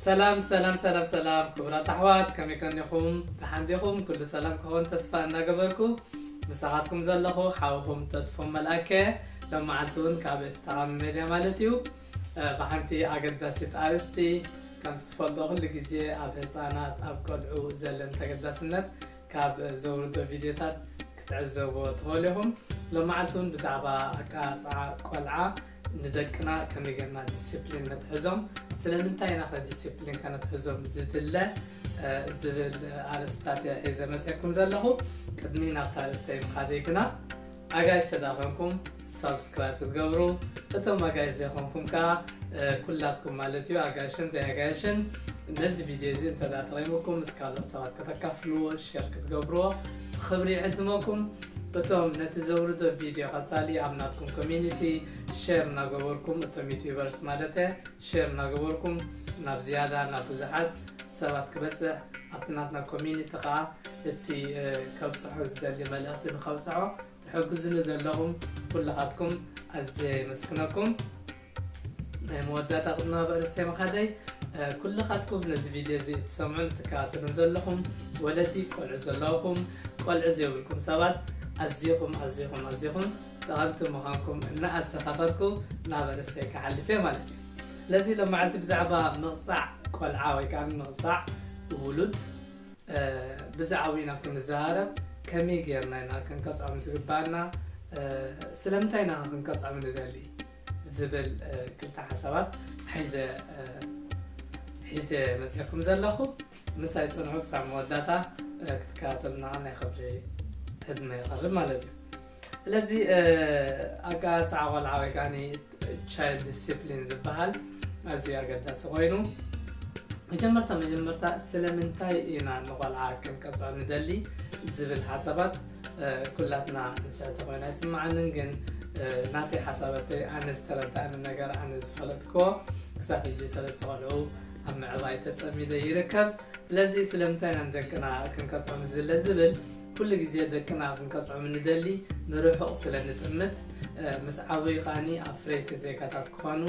ሰላም ሰላም ሰላም ሰላም ክቡራት ኣሕዋት ከመይ ከኒኹም ደሓን ዲኹም ኩሉ ሰላም ክኸውን ተስፋ እናገበርኩ ምሳኻትኩም ዘለኹ ሓውኹም ተስፎም መልኣከ ሎም መዓልቲ እውን ካብ እቲ ጠቓሚ ሜድያ ማለት እዩ ብሓንቲ ኣገዳሲት ኣርእስቲ ከምቲ ትፈልጦ ኩሉ ግዜ ኣብ ህጻናት ኣብ ቆልዑ ዘለን ተገዳስነት ካብ ዘውርዶ ቪድዮታት ክትዕዘብዎ ትኽእሉ ኢኹም። ሎማዓልቲ እውን ብዛዕባ ኣቀራርጻ ቆልዓ ንደቅና ከመይ ጌርና ዲሲፕሊን ነትሕዞም ስለምንታይ ኢና ከ ዲሲፕሊን ከነትሕዞም ዝድለ ዝብል ኣርእስታት እየ ሒዘ መጺኤኩም ዘለኹ። ቅድሚ ናብታ ኣርእስተይ ምኻደይ ግና ኣጋይሽ ተዳኾንኩም ሳብስክራይብ ክትገብሩ እቶም ኣጋይሽ ዘይኾንኩም ከኣ ኩላትኩም ማለት እዩ ኣጋይሽን ዘይኣጋይሽን ነዚ ቪድዮ እዚ እንተ ጠቂሙኩም ምስ ካልኦት ሰባት ከተካፍልዎ ሸር ክትገብርዎ ብኽብሪ ይዕድመኩም እቶም ነቲ ዘውርዶ ቪድዮ ቀጻሊ ኣብ ናትኩም ኮሚኒቲ ሸር እናገበርኩም እቶም ዩቲዩበርስ ማለተ ሸር እናገበርኩም ናብ ዝያዳ ናብ ብዙሓት ሰባት ክበጽሕ ኣብቲ ናትና ኮሚኒቲ ከኣ እቲ ከብጽሖ ዝደሊ መልእኽቲ ንከብጽሖ ትሕግዙኒ ዘለኹም ኩላኻትኩም ኣዝየ የመስግነኩም። ናይ መወዳእታ ቅድሚ ናብ ኣርእስተይ ምኻደይ ኩላኻትኩም ነዚ ቪድዮ እዚ እትሰምዑን እትከታተሉን ዘለኹም ወለዲ ቆልዑ ዘለኹም ቆልዑ ዘይብልኩም ሰባት ኣዚኹም ኣዚኹም ኣዚኹም ጠቐምቲ ምዃንኩም እናኣዘኻኸርኩ ናብ ኣርእስተይ ክሓልፍ እየ ማለት እዩ። ስለዚ ሎማዓንቲ ብዛዕባ ምቕጻዕ ቆልዓ ወይ ከኣ ምቕጻዕ ውሉድ ብዛዕብኡ ኢና ክንዘራረብ ከመይ ጌርና ኢና ክንቀጽዖም ዝግብኣና ስለምንታይ ኢና ከ ክንቀጽዖም ንደሊ ዝብል ክልተ ሓሳባት ሒዘ ሒዘ መጺኹም ዘለኹ ምሳይ ጽንዑ ክሳብ መወዳእታ ክትከታተሉና ከኣ ናይ ክብሪ ዕድመ ይቐርብ ማለት እዩ ስለዚ ኣጋሳዓ ቆልዓ ወይ ከኣ ቻይልድ ዲሲፕሊን ዝበሃል ኣዝዩ ኣገዳሲ ኮይኑ መጀመርታ መጀመርታ ስለምንታይ ኢና ንቆልዓ ክንቀፅዖ ንደሊ ዝብል ሓሳባት ኩላትና ንስሕተ ኮይና ይስምዓንን ግን ናተይ ሓሳበተይ ኣነ ዝተረዳእኒ ነገር ኣነ ዝፈለጥክዎ ክሳብ ሕጂ ሰለስተ ቆልዑ ኣብ ምዕባይ ተፀሚደ ይርከብ ስለዚ ስለምንታይ ኢና ንደቅና ክንቀፅዖ ምስዝለ ዝብል ኩሉ ግዜ ደቅና ክንቀጽዖም ንደሊ ንርሑቕ ስለ ንጥምት ምስ ዓበዩ ከኣ ኣፍረይቲ ዜጋታት ክኾኑ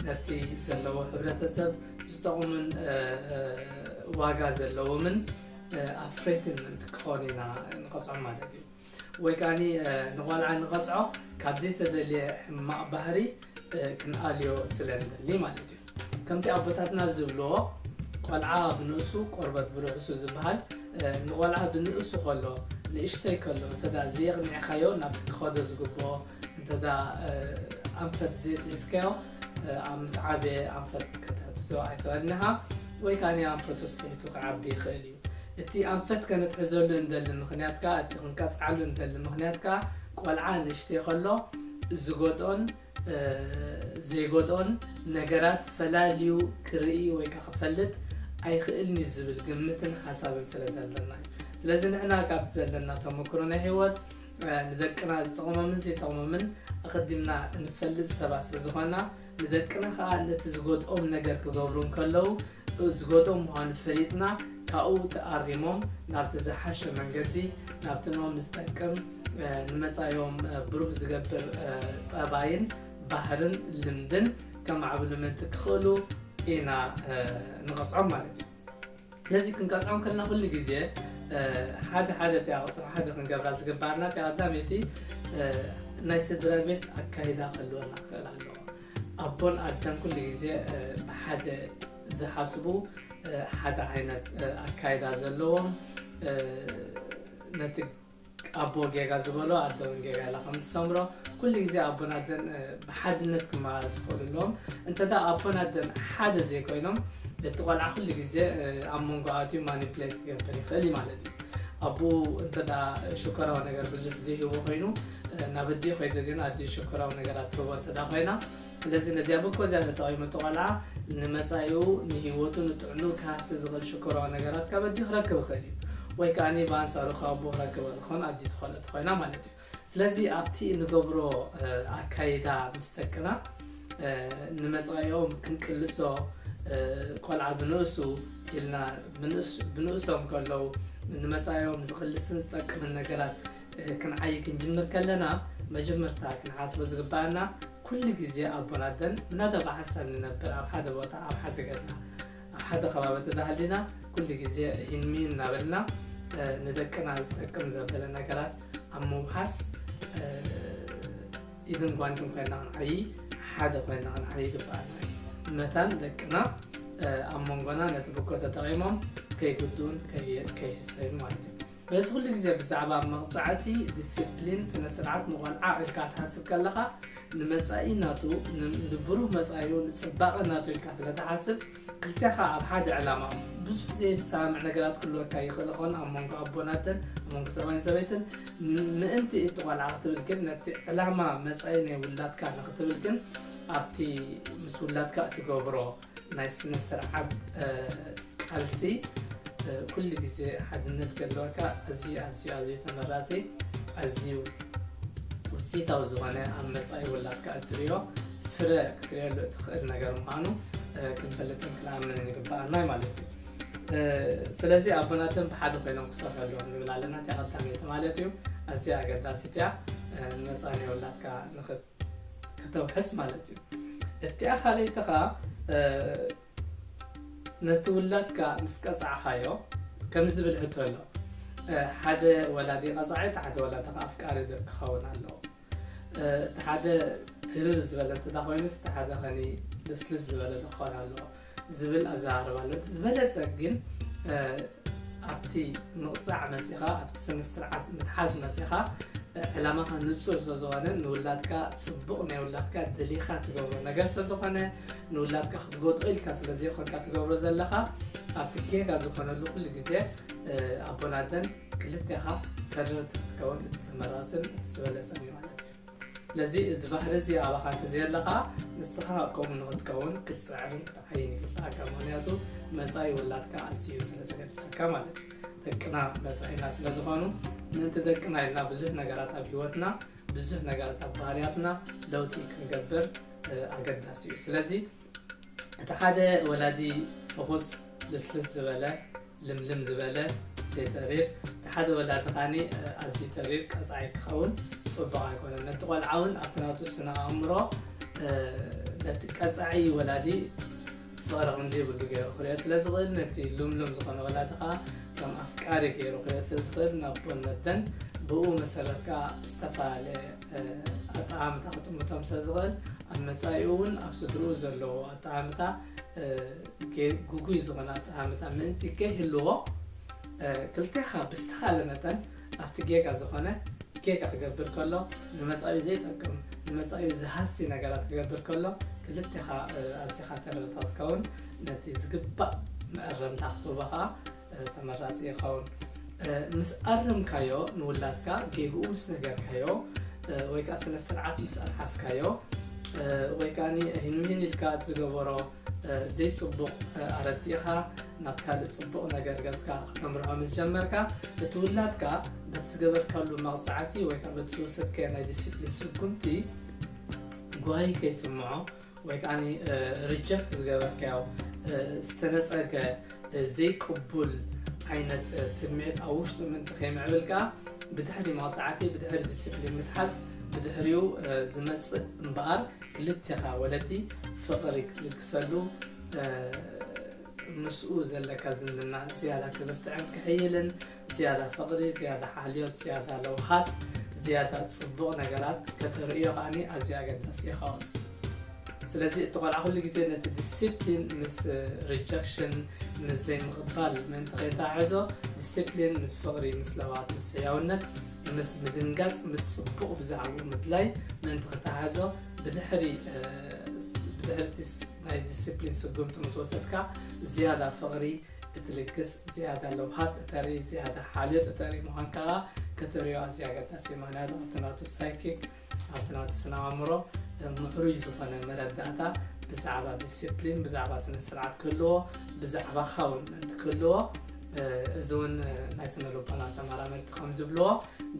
ነቲ ዘለዎ ሕብረተሰብ ዝጠቕሙን ዋጋ ዘለዎምን ኣፍረይቲ ምእንቲ ክኾኑ ኢና ንቐጽዖም ማለት እዩ ወይ ከኣ ንቖልዓ ንቐጽዖ ካብ ዘይተደልየ ሕማቕ ባህሪ ክንኣልዮ ስለ ንደሊ ማለት እዩ። ከምቲ ኣቦታትና ዝብልዎ ቆልዓ ብንእሱ ቆርበት ብርሑሱ ዝብሃል ንቆልዓ ብንእሱ ከሎ ንእሽተይ ከሎ እንተ ዘየቕኒዕካዮ ናብቲ ክኸዶ ዝግብኦ እንተ ኣንፈት ዘየትሒዝካዮ ኣብ ምስ ዓበየ ኣንፈት ከተትሕዞ ኣይትኽእልን ኢኻ ወይ ከኣ ኣንፈቱ ስሒቱ ክዓቢ ይኽእል እዩ። እቲ ኣንፈት ከነትሕዘሉ እንደሊ ምኽንያት ከኣ፣ እቲ ክንቀጽዓሉ እንደሊ ምኽንያት ከኣ፣ ቆልዓ ንእሽተይ ከሎ ዝጎድኦን ዘይጎድኦን ነገራት ፈላልዩ ክርኢ ወይ ከኣ ክፈልጥ ኣይኽእልን'ዩ ዝብል ግምትን ሓሳብን ስለ ዘለና'ዩ። ስለዚ ንሕና ካብቲ ዘለና ተመክሮ ናይ ህይወት ንደቅና ዝጠቕሞምን ዘይጠቕሞምን ኣቐዲምና እንፈልጥ ሰባት ስለ ዝኾንና፣ ንደቅና ከኣ ነቲ ዝጎድኦም ነገር ክገብሩ እንከለዉ ዝገትኦም ምዃኑ ፈሊጥና ካብኡ ተኣሪሞም ናብቲ ዝሓሸ መንገዲ ናብቲ ኖም ዝጠቅም ንመፃኢኦም ብሩህ ዝገብር ጠባይን ባህርን ልምድን ከማዕብሉ ምእንቲ ክኽእሉ ኢና ንቐፅዖም ማለት እዩ። ስለዚ ክንቀፅዖም ከለና ኩሉ ግዜ ሓደ ሓደ እቲኣ ቁፅሪ ሓደ ክንገብራ ዝግበኣና እቲኣ ቀዳመይቲ ናይ ስድራ ቤት ኣካይዳ ክህልወና ክኽእል ኣለዎ። ኣቦን ኣደን ኩሉ ግዜ ብሓደ ዝሓስቡ ሓደ ዓይነት ኣካይዳ ዘለዎም ነቲ ኣቦ ጌጋ ዝበሎ ኣደ ውን ጌጋ ኢላ ከም ትሰምሮ ኩሉ ግዜ ኣቦን ኣደን ብሓድነት ክመላለሱ ክኽእሉ ኣለዎም እንተ ኣቦን ኣደን ሓደ ዘይኮይኖም እቲ ቆልዓ ኩሉ ግዜ ኣብ መንጎ ኣትዩ ማኒፕሌት ክገብር ይኽእል እዩ ማለት እዩ ኣቦኡ እንተ ሽኮራዊ ነገር ብዙሕ ዘይህቦ ኮይኑ ናብ ኣዲኡ ከይዱ ግን ኣዲኡ ሽኮራዊ ነገራት ትህቦ እንተድኣ ኮይና ስለዚ ነዚኣ ብኮዚያ ተጠቒሙ እቲ ቆልዓ ንመጻኢኡ ንሂወቱ ንጥዕንኡ ክሃሲ ዝኽእል ሽኮራዊ ነገራት ካብ ኣዲኡ ክረክብ ይኽእል እዩ ወይ ከኣ ብኣንጻሩ ካብ ኣቦኡ ክረክብ ይኽእል ዝኸውን ኣዲኡ ትኸእሎ ተኾይና ማለት እዩ ስለዚ ኣብቲ እንገብሮ ኣካይዳ ምስ ደቅና ንመጻኢኦም ክንቅልሶ ቆልዓ ብንእሱ ኢልና ብንእሶም ከለዉ ንመጻኢኦም ዝቕልስን ዝጠቅምን ነገራት ክንዓይ ክንጅምር ከለና መጀመርታ ክንሓስቦ ዝግበኣና ኩሉ ግዜ ኣቦን ኣደን እናተበሓሰ ንነብር ኣብ ሓደ ቦታ ኣብ ሓደ ገዛ ኣብ ሓደ ከባቢ እንተተሃሊና ኩሉ ግዜ ሂንሚን እናበልና ንደቅና ዝጠቅም ዘበለ ነገራት ኣብ ምውሓስ ኢድን ጓንትን ኮይና ክንዓይ ሓደ ኮይና ክንዓይ ይግበኣና እዩ መታን ደቅና ኣብ መንጎና ነቲ ብጎ ተጠቒሞም ከይጉዱን ከይህሰዩ ማለት እዩ በዚ ኩሉ ግዜ ብዛዕባ መቕጻዕቲ፣ ዲሲፕሊን፣ ስነ-ስርዓት ንቖልዓ ኢልካ ትሓስብ ከለኻ፣ ንመጻኢ ናቱ፣ ንብሩህ መጻኢኡ፣ ንጽባቐ ናቱ ኢልካ ስለ ትሓስብ፣ ክልቴኻ ኣብ ሓደ ዕላማ እሞ ብዙሕ ዘይትሰማምዕ ነገራት ክህልወካ ይኽእል ይኸውን፣ ኣብ መንጎ ኣቦን ኣደን፣ ኣብ መንጎ ሰብኣይን ሰበይትን፣ ምእንቲ እቲ ቆልዓ ክትብል ግን፣ ነቲ ዕላማ መጻኢ ናይ ውላድካ ንኽትብል ግን ኣብቲ ምስ ውላድካ እትገብሮ። ናይ ስነስርዓት ቃልሲ ኩሉ ግዜ ሓድነት ክህልወካ ኣዝዩ ኣዝዩ ኣዝዩ ተመራጺ ኣዝዩ ውፅኢታዊ ዝኾነ ኣብ መፃኢ ውላድካ እትሪኦ ፍረ ክትሪኦሉ እትኽእል ነገር ምዃኑ ክንፈልጥን ክንኣምንን ይግበኣና ማለት እዩ ስለዚ ኣቦናትን ብሓደ ኮይኖም ክሰርሑ ኣለዎም ንብል ኣለና እቲኣ ቀዳመይቲ ማለት እዩ ኣዝያ ኣገዳሲት እያ ንመፃኢ ናይ ውላድካ ከተውሕስ ማለት እዩ እቲኣ ካልኣይትኻ ነቲ ውላድካ ምስ ቀጻዕኻዮ ከምዚ ዝብል ሕቶ ኣሎ ሓደ ወላዲ ቀጻዒ እቲ ሓደ ወላዲ ከዓ ኣፍቃሪ ክኸውን ኣለዎ እቲ ሓደ ትርር ዝበለ እንተ ኮይኑስ እቲ ሓደ ከኒ ልስልስ ዝበለ ክኾን ኣለዎ ዝብል ኣዘራርባ ኣሎ። እቲ ዝበለፀ ግን ኣብቲ ምቕፃዕ መፂእኻ ኣብቲ ስም ስርዓት ምትሓዝ መፂእኻ ዕላማኻ ንፁር ስለዝኾነ ንውላድካ ፅቡቕ ናይ ውላድካ ደሊኻ ትገብሮ ነገር ስለዝኾነ ንውላድካ ክትጎድኦ ኢልካ ስለዘይኮንካ ትገብሮ ዘለኻ ኣብቲ ጌጋ ዝኾነሉ ኩሉ ግዜ ኣቦን ኣደን ክልቴኻ ተረርቲ ክትከውን እቲ ተመራፅን እቲ ዝበለፀን እዩ ማለት እዩ። ስለዚ እዚ ባህሪ እዚ ኣባኻ እንተዘየለካ ንስኻ ከምኡ ንኽትከውን ክትጽዕርን ክትዓይን ይግበኣካ ምኽንያቱ መጻኢ ውላድካ ኣዝዩ ስለ ዘገድሰካ ማለት እዩ። ደቅና መጻኢና ስለ ዝኾኑ ምእንቲ ደቅና ኢልና ብዙሕ ነገራት ኣብ ሂወትና ብዙሕ ነገራት ኣብ ባህርያትና ለውጢ ክንገብር ኣገዳሲ እዩ። ስለዚ እቲ ሓደ ወላዲ ፍኹስ ልስልስ ዝበለ ልምልም ዝበለ ዘይተሪር እቲ ሓደ ወላዲ ኻኒ ኣዝዩ ተሪር ቀጻዒ ክኸውን ጽቡቕ ኣይኮነን ነቲ ቆልዓ እውን ኣብቲ ናቱ ስነ ኣእምሮ ነቲ ቀጻዒ ወላዲ ፍቕሪ ከምዘይብሉ ገይሩ ክሪኦ ስለ ዝኽእል ነቲ ልምልም ዝኾነ ወላዲ ኸዓ ከም ኣፍቃሪ ገይሩ ክሪኦ ስለ ዝኽእል ናብ ቦነደን ብኡ መሰረት ከዓ ዝተፈላለየ ኣጠማምታ ክጥምቶም ስለ ዝኽእል ኣብ መፃኢኡ እውን ኣብ ስድርኡ ዘለዎ ኣጠማምታ ግጉይ ዝኾነ ኣጠማምታ ምእንቲ ከይህልዎ ክልቴኻ ብዝተኻለ መጠን ኣብቲ ጌጋ ዝኾነ ጌጋ ክገብር ከሎ ንመፃኢኡ ዘይጠቅም ንመፃኢኡ ዝሃሲ ነገራት ክገብር ከሎ ክልቴኻ ኣዚኻ ተረድእታ ክትከውን ነቲ ዝግባእ መእረምታ ክትህቦ ከዓ ተመራፂ ይኸውን። ምስ ኣረምካዮ ንውላድካ ጌግኡ ምስ ነገርካዮ ወይ ከዓ ስነ ስርዓት ምስ ኣትሓዝካዮ ወይ ከዓ ህንምህን ኢልካ ዝገበሮ ዘይፅቡቕ ኣረዲእኻ ናብ ካልእ ፅቡቕ ነገር ገፅካ ከተምርዖ ምስ ጀመርካ እቲ ውላድካ በቲ ዝገበርካሉ መቕፃዕቲ ወይ ከዓ በቲ ዝወሰድካዮ ናይ ዲስፕሊን ስጉምቲ ጓሂ ከይስምዖ ወይ ከዓኒ ሪጀክት ዝገበርካዮ ዝተነጸገ ዘይቅቡል ዓይነት ስምዒት ኣብ ውሽጡ ምእንቲ ከይምዕብል ከኣ ብድሕሪ መቕጻዕቲ ብድሕሪ ዲስፕሊን ምትሓዝ ብድሕሪኡ ዝመጽእ እምበኣር ክልቴኻ ወለዲ ፍቕሪ ክትልግሰሉ ምስኡ ዘለካ ዝምድና ዝያዳ ክብርትዕን ክሕይልን ዝያዳ ፍቕሪ፣ ዝያዳ ሓልዮት፣ ዝያዳ ለውሃት፣ ዝያዳ ጽቡቕ ነገራት ከተርእዮ ከኣ ኣዝዩ ኣገዳሲ ይኸውን። ስለዚ እቲ ቆልዓ ኩሉ ግዜ ነቲ ዲሲፕሊን ምስ ሪጀክሽን ምስ ዘይምቕባል ምእንቲ ከይተዓዕዞ ዲሲፕሊን ምስ ፍቕሪ፣ ምስ ለውሃት፣ ምስ ሕያውነት፣ ምስ ምድንጋጽ፣ ምስ ጽቡቕ ብዛዕብኡ ምድላይ ምእንቲ ክተዓዕዞ ብድሕሪ ብድሕሪ እቲ ናይ ዲሲፕሊን ስጉምቲ ምስ ወሰድካ ዝያዳ ፍቕሪ፣ እቲ ልግስ ዝያዳ ለውሃት እተርኢ፣ ዝያዳ ሓልዮት እተርኢ ምዃንካ ከኣ ከተርእዮ ኣዝዩ ኣገዳሲ እዩ። ምኽንያቱ ኣብቲ ናቱ ሳይኪክ፣ ኣብቲ ናቱ ስነኣእምሮ ምዕሩይ ዝኾነ መረዳእታ ብዛዕባ ዲሲፕሊን፣ ብዛዕባ ስነስርዓት ክህልዎ፣ ብዛዕባኻ እውን ምእንቲ ክህልዎ። እዚ እውን ናይ ስነልቦና ተመራመርቲ ከም ዝብልዎ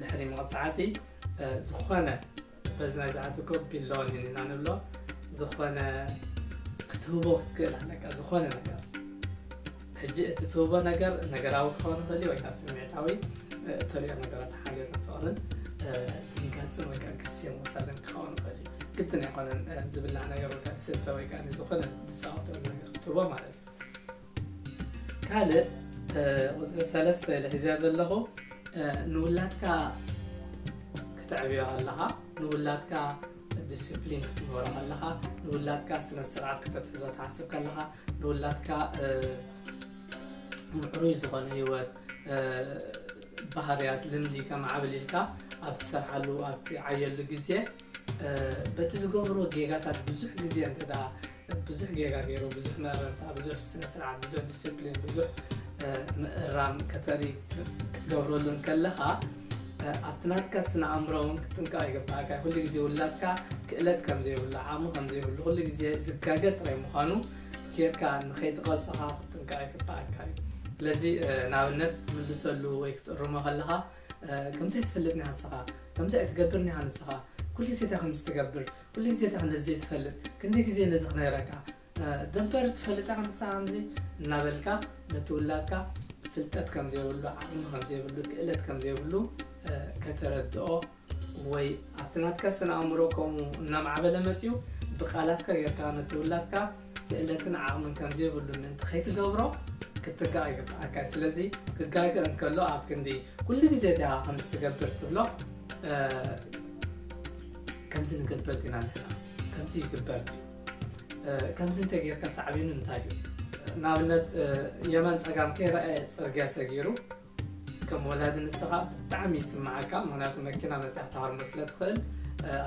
ድሕሪ መቕጻዕቲ ዝኾነ በዚ ናይ ዝኣቲ ኮፒ ሎን ኢና ንብሎ ዝኾነ ክትህቦ ክትክእል ኣለካ ዝኾነ ነገር ሕጂ እቲ ትህቦ ነገር ነገራዊ ክኸውን ይኽእል እዩ ወይ ከዓ ስምዒታዊ እተሪኦ ነገራት ሓልዮትን ፍቕርን ገንዘብ ወይ ከዓ ግዜ መውሰድን ክኸውን ይኽእል እዩ ግድን ኣይኮነን ዝብላዕ ነገር ወይ ከዓ ዝስተ ወይ ከዓ ዝኾነ ዝፃወተሉ ነገር ክትህቦ ማለት እዩ ካልእ ቁፅሪ ሰለስተ ኢለ ሒዘያ ዘለኹ ንውላድካ ክተዕብዮ ኣለኻ ንውላድካ ዲስፕሊን ክትግበሮ ኣለኻ ንውላድካ ስነ ስርዓት ክተትሕዞ ትሓስብ ከለኻ ንውላድካ ምዕሩይ ዝኾነ ህይወት ባህርያት ልምዲ ከማዕብል ኢልካ ኣብ ትሰርሓሉ ኣብ ትዓየሉ ግዜ በቲ ዝገብሮ ጌጋታት ብዙሕ ግዜ እንተ ብዙሕ ጌጋ ገይሩ ብዙሕ መረርታ ብዙሕ ስነስርዓት ብዙሕ ዲስፕሊን ብዙሕ ምእራም ከተርኢ ክትገብረሉ እንከለኻ ኣብቲ ናትካ ስነ ኣእምሮ እውን ክትጥንቀቕ ይግባእካ ኩሉ ግዜ ውላድካ ክእለት ከም ዘይብሉ ዓቕሚ ከም ዘይብሉ ኩሉ ግዜ ዝጋገ ጥራይ ምዃኑ ጌርካ ንኸይትቐልፅኻ ክትጥንቀቕ ይግባእካ እዩ ስለዚ ንኣብነት ትምልሰሉ ወይ ክትእርሞ ከለኻ ከምዚ ኣይትፈልጥ ኒሃ ንስኻ ከምዚ ኣይትገብር ኒሃ ንስኻ ኩሉ ግዜ እንታይ ከም ዝትገብር ኩሉ ግዜ እታ ክንዲ ዘይትፈልጥ ክንደይ ግዜ ነዚ ክነግረካ ደንፈር ትፈልጣ ክንሳ ከምዚ እናበልካ ነቲ ውላድካ ፍልጠት ከም ዘይብሉ ዓቅሚ ከም ዘይብሉ ክእለት ከም ዘይብሉ ከተረድኦ ወይ ኣብቲ ናትካ ስነ ኣእምሮ ከምኡ እናማዕበለ መጺኡ ብቃላትካ ጌርካ ነቲ ውላድካ ክእለትን ዓቕምን ከም ዘይብሉ ምእንቲ ኸይትገብሮ ክትትክኣ ይግብኣካ እዩ። ስለዚ ክጋገ እንከሎ ኣብ ክንዲ ኩሉ ግዜ ድኣ ከምዚ ትገብር ትብሎ ከምዚ ንገብር ዲና ንሕና ከምዚ ይግበር ድዩ ከምዚ እንተጌርካ ሳዕቤኑ እንታይ እዩ ንኣብነት የመን ጸጋም ከይረኣየ ጽርግያ ሰጊሩ ከም ወላዲ ንስኻ ብጣዕሚ ይስመዓካ ምክንያቱ መኪና መጺኣ ትሃርሞ ስለ ትኽእል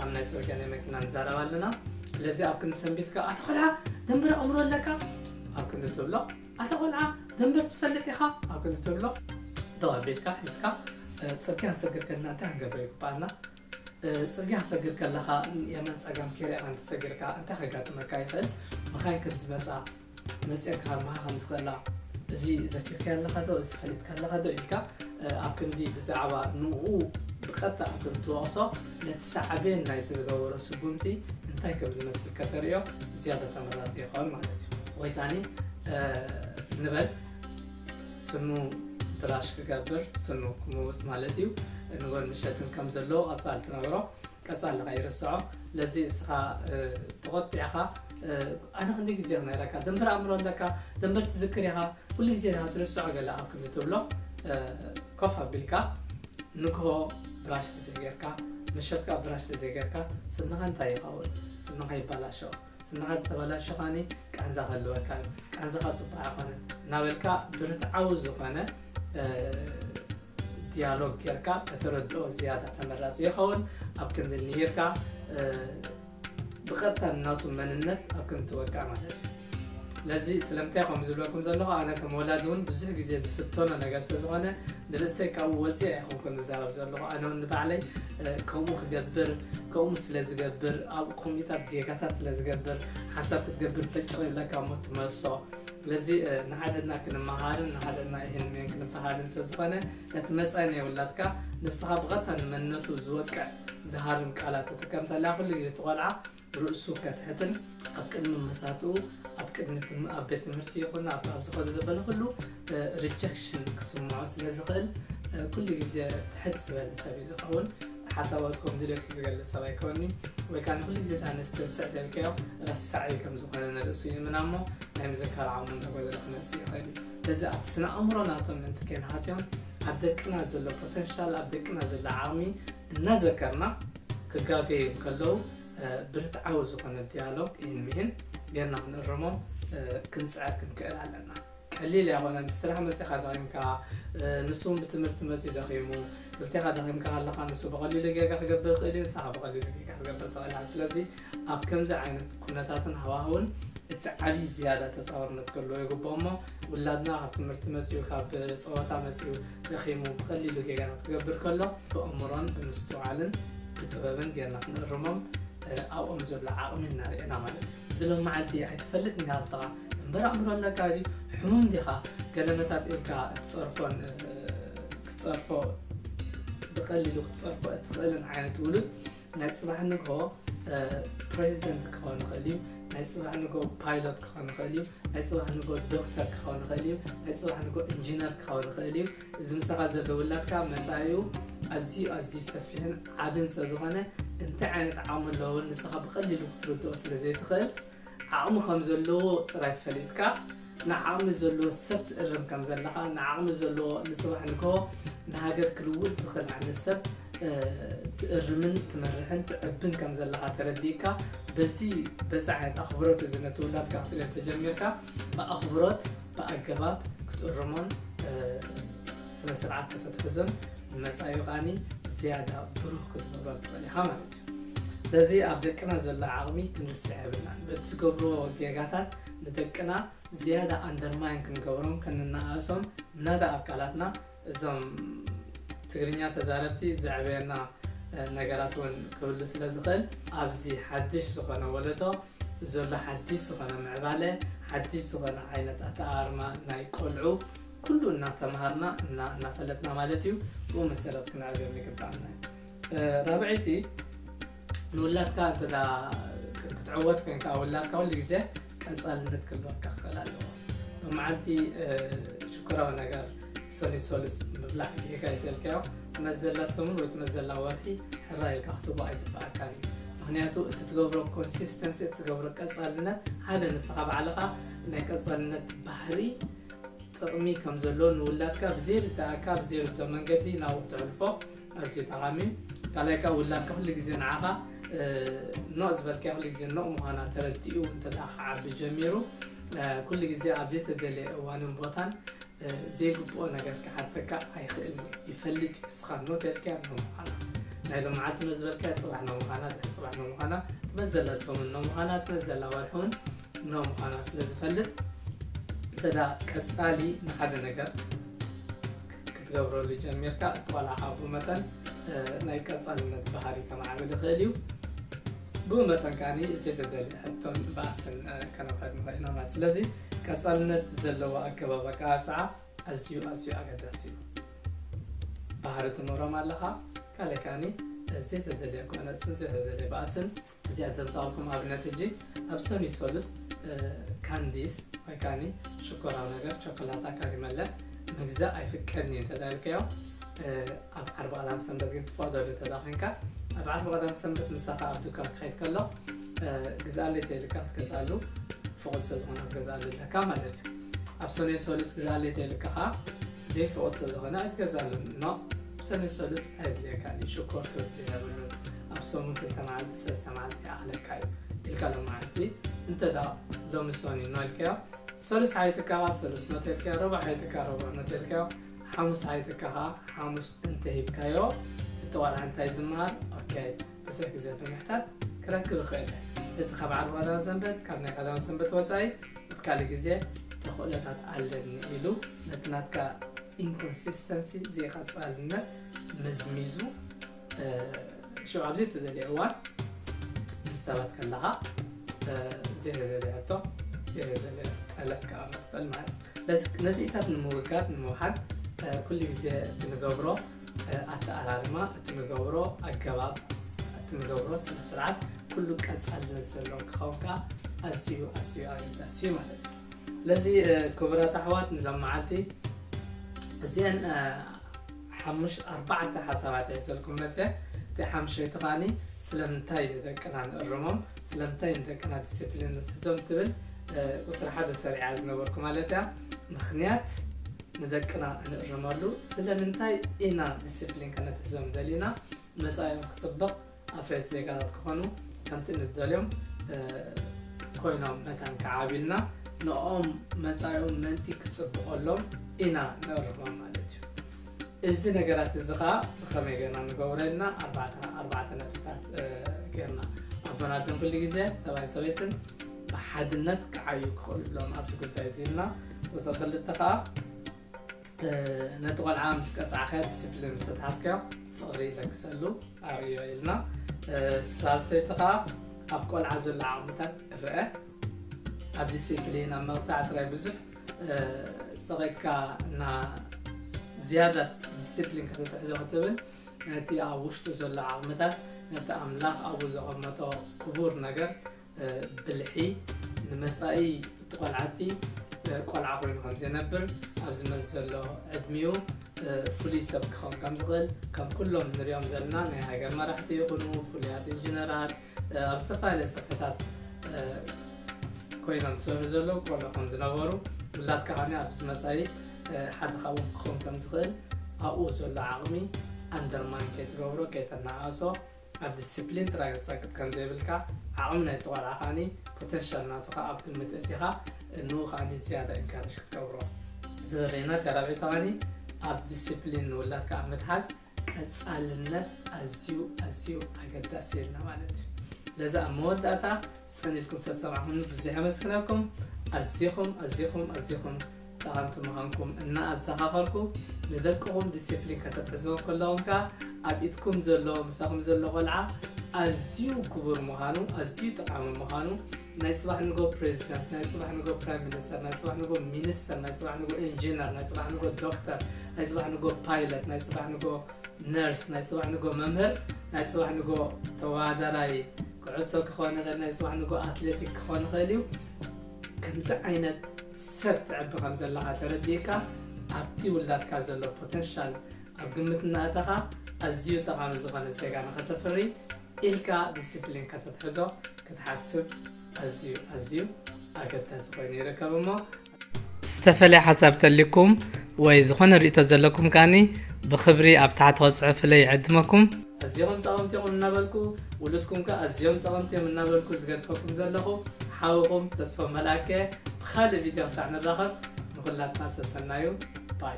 ኣብ ናይ ጽርግያ ናይ መኪና ንዛረብ ኣለና ስለዚ ኣብ ክንዲ ሰንቢት ከኣ ኣታ ቆልዓ ደንበረ ኣእምሮ ኣለካ ኣብ ክንዲ ትብሎ ኣታ ቆልዓ ደንበር ትፈልጥ ኢኻ ኣብ ክንዲ ትብሎ ደው ኣቢልካ ሒዝካ ጽርግያ ንሰግር ከለና እንታይ ክንገብር ይግባኣና ጽርግያ ክሰግር ከለኻ የመን ጸጋም ኬሪያ ኣንትሰግርካ እንታይ ከጋጥመካ ይኽእል መኻይን ከም ዝመጻ መፅየን ክሃርማኻ ከም ዝኽእላ እዚ ዘኪርካዮ ኣለኻ ዶ እዚ ፈሊጥካ ኣለኻ ዶ ኢልካ ኣብ ክንዲ ብዛዕባ ንኡ ብቐጥታ እንትትወቕሶ ነቲ ሳዕቤን ናይቲ ዝገበሮ ስጉምቲ እንታይ ከም ዝመስል ከተርእዮ ዝያዳ ተመራፂ ይኸውን ማለት እዩ ወይ ካኒ ንበል ስኑ ብራሽ ክገብር ስኑ ክምውፅ ማለት እዩ ንጎን ምሸትን ከም ዘለዎ ቐፃሊ ትነግሮ ቀጻሊ ከይርስዖ ለዚ እስኻ ተቆጢዕኻ ኣነ ክንደይ ግዜ ክነግረካ ደንበር ኣእምሮ ኣለካ ደንበር ትዝክር ኢኻ ኩሉ ግዜ ድኻ ትርስዖ ገለ ኣብ ክንዲ ትብሎ ኮፍ ኣቢልካ ንግሆ ብራሽ ተዘይገርካ መሸትካ ብራሽ ተዘይገርካ ስንኻ እንታይ ይኸውን ስንኻ ይባላሾ ስምካ ተተበላሽኻኒ ቃንዛ ክህልወካ እዩ ቃንዛኻ ፅቡቅ ኣይኮነን እናበልካ ብርትዓዊ ዝኾነ ዲያሎግ ጌርካ ከተረድኦ ዝያዳ ተመራፂ ይኸውን ኣብ ክንዲ ምሂርካ ብቀጥታ ናቱ መንነት ኣብ ክንዲ ትወቅዕ ማለት እዩ ስለዚ ስለምንታይ ከምኡ ዝብለኩም ዘለኹ ኣነ ከም ወላድ እውን ብዙሕ ግዜ ዝፍተኖ ነገር ስለዝኾነ ንርእሰይ ካብኡ ወፂዕ ኣይኮንኩን ዝዛረብ ዘለኹ ኣነ እውን ንባዕለይ ከምኡ ክገብር ከምኡ ስለ ዝገብር ኣብ ኮምፒተር ጌጋታት ስለ ዝገብር ሓሳብ ክትገብር ፈጭቕ ይብለካ እሞ ትመልሶ ስለዚ ንሓደና ክንመሃርን ንሓደና ይህንሜን ክንፈሃርን ስለ ዝኾነ ነቲ መፃኢ ናይ ውላድካ ንስኻ ብቐጥታ ንመንነቱ ዝወቅዕ ዝሃርም ቃላት ተጠቀምተላ ኩሉ ግዜ ትቆልዓ ርእሱ ከትሕትን ኣብ ቅድሚ መሳቱኡ ኣብ ቅድሚ ትም ኣብ ቤት ትምህርቲ ይኹን ኣብ ኣብ ዝኸዱ ዘበለ ኩሉ ሪጀክሽን ክስምዖ ስለ ዝኽእል ኩሉ ግዜ ትሕት ዝበለ ሰብ እዩ ዝኸውን ሓሳባቱ ከም ድሌቱ ዝገልጽ ሰብ ኣይኮኒ ወይ ከዓ ንኩሉ ግዜ እታ ኣንስቲ ርስዕ ተልከዮ ረሳዒ ከም ዝኾነ ንርእሱ ይእምና እሞ ናይ ምዝካር ዓቕሙ እንዳጎደለ ክመጽእ ይኽእል እዩ ነዚ ኣብቲ ስነ ኣእምሮ ናቶም ምእንቲ ከይንሃስዮም ኣብ ደቅና ዘሎ ፖተንሻል ኣብ ደቅና ዘሎ ዓቕሚ እናዘከርና ክጋገዩ እንከለዉ ብርትዓዊ ዝኾነ ዲያሎግ ኢህን ምሂን ጌርና ክንእርሞም ክንጽዕር ክንክእል ኣለና። ቀሊል ኣይኮነን ብስራሕ መጺኻ ደኺምካ ንሱ ውን ብትምህርቲ መጺኡ ደኺሙ ክልቴኻ ደኺምካ ከለኻ ንሱ ብቐሊሉ ጌጋ ክገብር ይኽእል እዩ ንሳኻ ብቐሊሉ ጌጋ ክገብር ትኽእል ኢኻ ስለዚ ኣብ ከምዚ ዓይነት ኩነታትን ሃዋህውን እቲ ዓብዪ ዝያዳ ተጻዋርነት ክህልዎ ይግብኦ እሞ ውላድና ካብ ትምህርቲ መጺኡ ካብ ጸወታ መጺኡ ደኺሙ ብቐሊሉ ጌጋታት ክገብር ከሎ ብእምሮን ብምስትውዓልን ብጥበብን ጌርና ክንእርሞም ኣብኦም ዘሎ ዓቕሚ እናርእና ማለት እዩ። እዚ ሎመዓልቲ ኣይትፈልጥን ኢኻ ንስኻ እምበር ኣእምሮ ኣለካ ድዩ ሕሙም ዲኻ ገለ መታት ኢልካ እትጸርፎን ክትጸርፎ ብቐሊሉ ክትጸርፎ እትኽእልን ዓይነት ውሉድ ናይ ጽባሕ ንግሆ ፕረዚደንት ክኸውን ይኽእል እዩ። ናይ ጽባሕ ንግሆ ፓይሎት ክኸውን ይኽእል እዩ። ናይ ጽባሕ ንግሆ ዶክተር ክኸውን ይኽእል እዩ። ናይ ጽባሕ ንግሆ ኢንጂነር ክኸውን ይኽእል እዩ። እዚ ምሳኻ ዘሎ ውላድካ መጻኢኡ ኣዝዩ ኣዝዩ ሰፊሕን ዓብን ስለ ዝኾነ እንታይ ዓይነት ዓቕሚ ኣለዎ ንስኻ ብቐሊሉ ክትርድኦ ስለ ዘይትኽእል ዓቕሚ ከም ዘለዎ ጥራይ ፈሊጥካ ንዓቕሚ ዘለዎ ሰብ ትእርም ከም ዘለኻ ንዓቕሚ ዘለዎ ንጽባሕ ንግሆ ንሃገር ክልውጥ ዝኽእል ዓይነት ሰብ ትእርምን ትመርሕን ትዕብን ከም ዘለኻ ተረዲእካ በዚ በዚ ዓይነት ኣኽብሮት እዚ ነቲ ውላድ ካብ ትሪኦ ተጀሚርካ ብኣኽብሮት ብኣገባብ ክትእርሞን ስነ ስርዓት ከተትሕዞን ንመጻኢ ከዓኒ ዝያዳ ብሩህ ክትገብሮ ትኽእል ኢኻ ማለት እዩ። በዚ ኣብ ደቅና ዘሎ ዓቕሚ ክንርስዕ የብልናን። በቲ ዝገብርዎ ጌጋታት ንደቅና ዝያዳ ኣንደርማይን ክንገብሮም ክንነኣእሶም ምናዳ ኣብ ቃላትና እዞም ትግርኛ ተዛረብቲ ዘዕበየና ነገራት ውን ክህሉ ስለ ዝኽእል ኣብዚ ሓድሽ ዝኾነ ወለዶ ዘሎ ሓድሽ ዝኾነ ምዕባለ ሓድሽ ዝኾነ ዓይነት ኣተኣኣርማ ናይ ቆልዑ ኩሉ እናተምሃርና እና እናፈለጥና ማለት እዩ ብኡ መሰረት ክንዕብዮም ይግብኣና እዩ። ራብዐይቲ ንውላድካ እንተ ክትዕወት ኮንካ ውላድካ ኩሉ ግዜ ቀፃልነት ክህልወካ ክኽእል ኣለዎ ብመዓልቲ ሽኮራዊ ነገር ሰሉስ ሰሉስ ምብላዕ ጌጋ እንተልካዮ መዘላ ሰሙን ወይ መዘላ ወርሒ ሕራ ኢልካ ክትቦ ኣይግበኣካን እዩ ምክንያቱ እቲ ትገብሮ ኮንሲስተንሲ እቲ ትገብሮ ቀፃልነት ሓደ ንስኻ ባዕልኻ ናይ ቀፃልነት ባህሪ ጥቕሚ ከም ዘለዎ ንውላድካ ብዘይርዳእካ ብዘይርቶ መንገዲ ናብኡ ተሕልፎ ኣዝዩ ጠቓሚ ካልኣይ ከኣ ውላድካ ኩሉ ግዜ ንዓኻ ኖእ ዝበልካዮ ኩሉ ግዜ ኖእ ምዃና ተረዲኡ እንተድኣ ክዓቢ ጀሚሩ ኩሉ ግዜ ኣብ ዘይተደለየ እዋንን ቦታን ዘይግብኦ ነገር ክሓተካ ኣይኽእልን እዩ ይፈልጥ እዩ እስኻ ኖእ ተልካያ ኖእ ምዃና ናይ ሎምዓልቲ ኖእ ዝበልካያ ፅባሕ ኖእ ምዃና ድሕሪ ፅባሕ ኖእ ምዃና ትመፅ ዘላ ሰሙን ኖእ ምዃና ትመፅ ዘላ ወርሒ እውን ኖእ ምዃና ስለ ዝፈልጥ እንተድኣ ቀፃሊ ንሓደ ነገር ክትገብረሉ ጀሚርካ እቲ ቆልዓ ካኣ ብኡ መጠን ናይ ቀጻልነት ባህሪ ከማዕብል ይኽእል እዩ ብኡ መጠን ካኣ ዘይተደልየ ሕቶን ባእስን ከነውሕድ ንኽእል ኢና ማለት ስለዚ ቀጻልነት ዘለዎ ኣገባብ ኣቀባጽዓ ኣዝዩ ኣዝዩ ኣገዳሲ እዩ ባህሪ ትምህሮም ኣለኻ ካልእ ካኣ ዘይተደልየ ጎነጽን ዘይተደልየ ባእስን እዚኣ ዘምጻልኩም ኣብነት ሕጂ ኣብ ሰኑይ ሰሉስ ካንዲስ ወይ ካኒ ሽኮራዊ ነገር ቸኮላታ ካሪመለ ምግዛእ ኣይፍቀድን እዩ እንተዳልከዮ ኣብ ዓርቢ ቀዳም ሰንበት ግን ትፈቅደሉ እንተዳ ኮንካ ኣብ ዓርቢ ቀዳም ሰንበት ምሳኻ ኣብ ድኳን ክኸይድ ከሎ ግዛኣለይ ተይልካ ክትገዛሉ ፍቁድ ስለ ዝኾነ ክትገዛሉ ኣለካ ማለት እዩ ኣብ ሰኑይ ሰሉስ ግዛኣለይ ተይልካ ከዓ ዘይፈወጦ ዝኮነ ኣይትገዛሉን እኖ ሰሉስ ሰሉስ ኣየድልየካን እዩ ሽኮር ክብዝሕ የብሉን ኣብ ሰሙን ክልተ መዓልቲ ሰለስተ መዓልቲ ይኣክለካ እዩ ኢልካ ሎማዓንቲ እንተ ሎሚ ሰኑይ እኖ ኢልካዮ ሰሉስ ሓይትካ ሰሉስ እኖ ተልካዮ ረቡዕ ሓይትካ ረቡዕ እኖ ተልካዮ ሓሙስ ሓይትካ ከዓ ሓሙስ እንተ ሂብካዮ እቲ ቆልዓ እንታይ ዝምሃር ኦኬ ብዙሕ ግዜ ብምሕታት ክረክብ እኽእል እየ። እዚ ካብ ዓርቢ ቀዳመ ሰንበት፣ ካብ ናይ ቀዳመ ሰንበት ወጻኢ እቲ ካልእ ግዜ ተኽእሎታት ኣለኒ ኢሉ ነቲ ናትካ ኢንኮንሲስተንሲ፣ ዘይቐጻልነት፣ መዝሚዙ ሽዑ ኣብ ዘይተደልየ እዋን ምስ ሰባት ከለኻ ዘይተደልየ ሕቶ፣ ዘይተደልየ ጠለብ ክኣምር ይኽእል ማለት እዩ። ነዚኢታት ንምውጋድ ንምውሓድ ኩሉ ግዜ ብንገብሮ ኣተኣላልማ እቲ ንገብሮ ኣገባብ እቲ ንገብሮ ስነ ስርዓት ኩሉ ቀፃልነት ዘለዎ ክኸውን ከዓ ኣዝዩ ኣዝዩ ኣገዳሲ እዩ ማለት እዩ ስለዚ ክቡራት ኣሕዋት ንሎም መዓልቲ እዚአን ሓሙሽ ኣርባዕተ ሓሳባት ይዘልኩም መፀ እቲ ሓምሸይቲ ከዓኒ ስለምንታይ ንደቅና ንእርሞም ስለምንታይ ንደቅና ዲስፕሊን ንትሕዞም ትብል ቁፅሪ ሓደ ሰሪዓ ዝነበርኩ ማለት እያ ምክንያት ንደቅና እንእርመሉ ስለምንታይ ኢና ዲሲፕሊን ከነትሕዞም ደሊና መጻኢኦም ክጽብቕ ኣፍረይቲ ዜጋታት ክኾኑ ከምቲ እንደልዮም ኮይኖም መታን ክዓብዩ ኢልና ንኦም መጻኢኦም ምእንቲ ክጽብቐሎም ኢና ንእርሞም ማለት እዩ እዚ ነገራት እዚ ከዓ ብኸመይ ገና ንገብሮ ኢልና ኣርባዕተ ነጥብታት ገርና ኣቦናትን ኩሉ ግዜ ሰብኣይ ሰበይትን ብሓድነት ክዓዩ ክኽእሉሎም ኣብዚ ጉዳይ እዚ ኢልና እዚ ክልተ ከዓ ነቲ ቆልዓ ምስ ቀፃዕካዮ ዲስፕሊን ምስ ተትሓዝካዮ ፍቕሪ ይለግሰሉ ኣርእዮ ኢልና ሳልሰይቲ ከዓ ኣብ ቆልዓ ዘሎ ዓቕምታት ክረአ ኣብ ዲስፕሊን ኣብ መቕፃዕ ጥራይ ብዙሕ ፀቒጥካ እና ዝያዳ ዲስፕሊን ከተትሕዞ ክትብል ነቲ ኣብ ውሽጡ ዘሎ ዓቕምታት ነቲ ኣምላኽ ኣብኡ ዘቐመጦ ክቡር ነገር ብልሒ ንመጻኢ እቲ ቆልዓቲ ቆልዓ ኮይኑ ከም ዘይነብር ኣብዚ መዚ ዘሎ ዕድሚኡ ፍሉይ ሰብ ክኸውን ከም ዝኽእል ከም ኩሎም ንሪኦም ዘለና ናይ ሃገር መራሕቲ ይኹኑ ፍሉያት ኢንጂነራት ኣብ ዝተፈላለየ ሰፈታት ኮይኖም ዝሰርሑ ዘለዉ ቆልዑ ከም ዝነበሩ ውላድካ ከዓኒ ኣብዚ መጻኢ ሓደ ካብኦም ክኸውን ከም ዝኽእል ኣብኡ ዘሎ ዓቕሚ ኣንደርማን ከይትገብሮ ከይተናኣእሶ ኣብ ዲሲፕሊን ጥራይ ክትጸቅጥ ከም ዘይብልካ፣ ዓቕሚ ናይቲ ቆልዓ ከኣ ፖተንሻል ናቱ ከኣ ኣብ ግምት እእቲኻ ንኡ ከኣ ዝያዳ ኢንካረጅ ክትገብሮ። እዚ በበይና እቲ ራብዒ ተቐኒ ኣብ ዲሲፕሊን ንውላድካ ኣብ ምትሓዝ ቀጻልነት ኣዝዩ ኣዝዩ ኣገዳሲ ኢልና ማለት እዩ። ስለዚ ኣብ መወዳእታ ጽን ኢልኩም ስለ ትሰማዕኩምኒ ብዝሕ የመስግነኩም። ኣዚኹም ኣዚኹም ኣዚኹም ጠቐምቲ ምዃንኩም እና ኣዘኻኸርኩ፣ ንደቅኹም ዲሲፕሊን ከተትሕዝዎም ከለኹም ከኣ ኣብ ኢድኩም ዘሎ ምሳኹም ዘሎ ቆልዓ ኣዝዩ ክቡር ምዃኑ ኣዝዩ ጠቓሚ ምዃኑ ናይ ጽባሕ ንጎ ፕሬዚደንት፣ ናይ ጽባሕ ንጎ ፕራይም ሚኒስተር፣ ናይ ጽባሕ ንጎ ሚኒስተር፣ ናይ ጽባሕ ንጎ ኢንጂነር፣ ናይ ጽባሕ ንጎ ዶክተር፣ ናይ ጽባሕ ንጎ ፓይለት፣ ናይ ጽባሕ ንጎ ነርስ፣ ናይ ጽባሕ ንግሆ መምህር፣ ናይ ጽባሕ ንግሆ ተወዳዳራይ ኩዕሶ ክኾን ይኽእል፣ ናይ ጽባሕ ንግሆ ኣትሌቲክ ክኾን ይኽእል እዩ። ከምዚ ዓይነት ሰብ ትዕቢ ከም ዘለኻ ተረዲእካ ኣብቲ ውላድካ ዘሎ ፖተንሻል ኣብ ግምት እናእተኻ ኣዝዩ ጠቓሚ ዝኾነ ዜጋ ንኸተፍሪ ኢልካ ዲሲፕሊን ከተትሕዞ ክትሓስብ ኣዝዩ ኣዝዩ ኣገዳሲ ኮይኑ ይርከብ እሞ ዝተፈለየ ሓሳብ ተልኩም ወይ ዝኾነ ርእቶ ዘለኩም ከኣኒ ብክብሪ ኣብ ታሕቲ ከጽሑፍለይ ይዕድመኩም። ኣዝዮም ጠቐምቲ ኢኹም እናበልኩ ውሉድኩም ከ ኣዝዮም ጠቐምቲ እዮም እናበልኩ ዝገድፈኩም ዘለኹ ሓውኹም ተስፎም መልኣከ እየ ብኻልእ ቪድዮ ክሳዕ ንራኸብ ንኹላትና ሰሰናዩ ባይ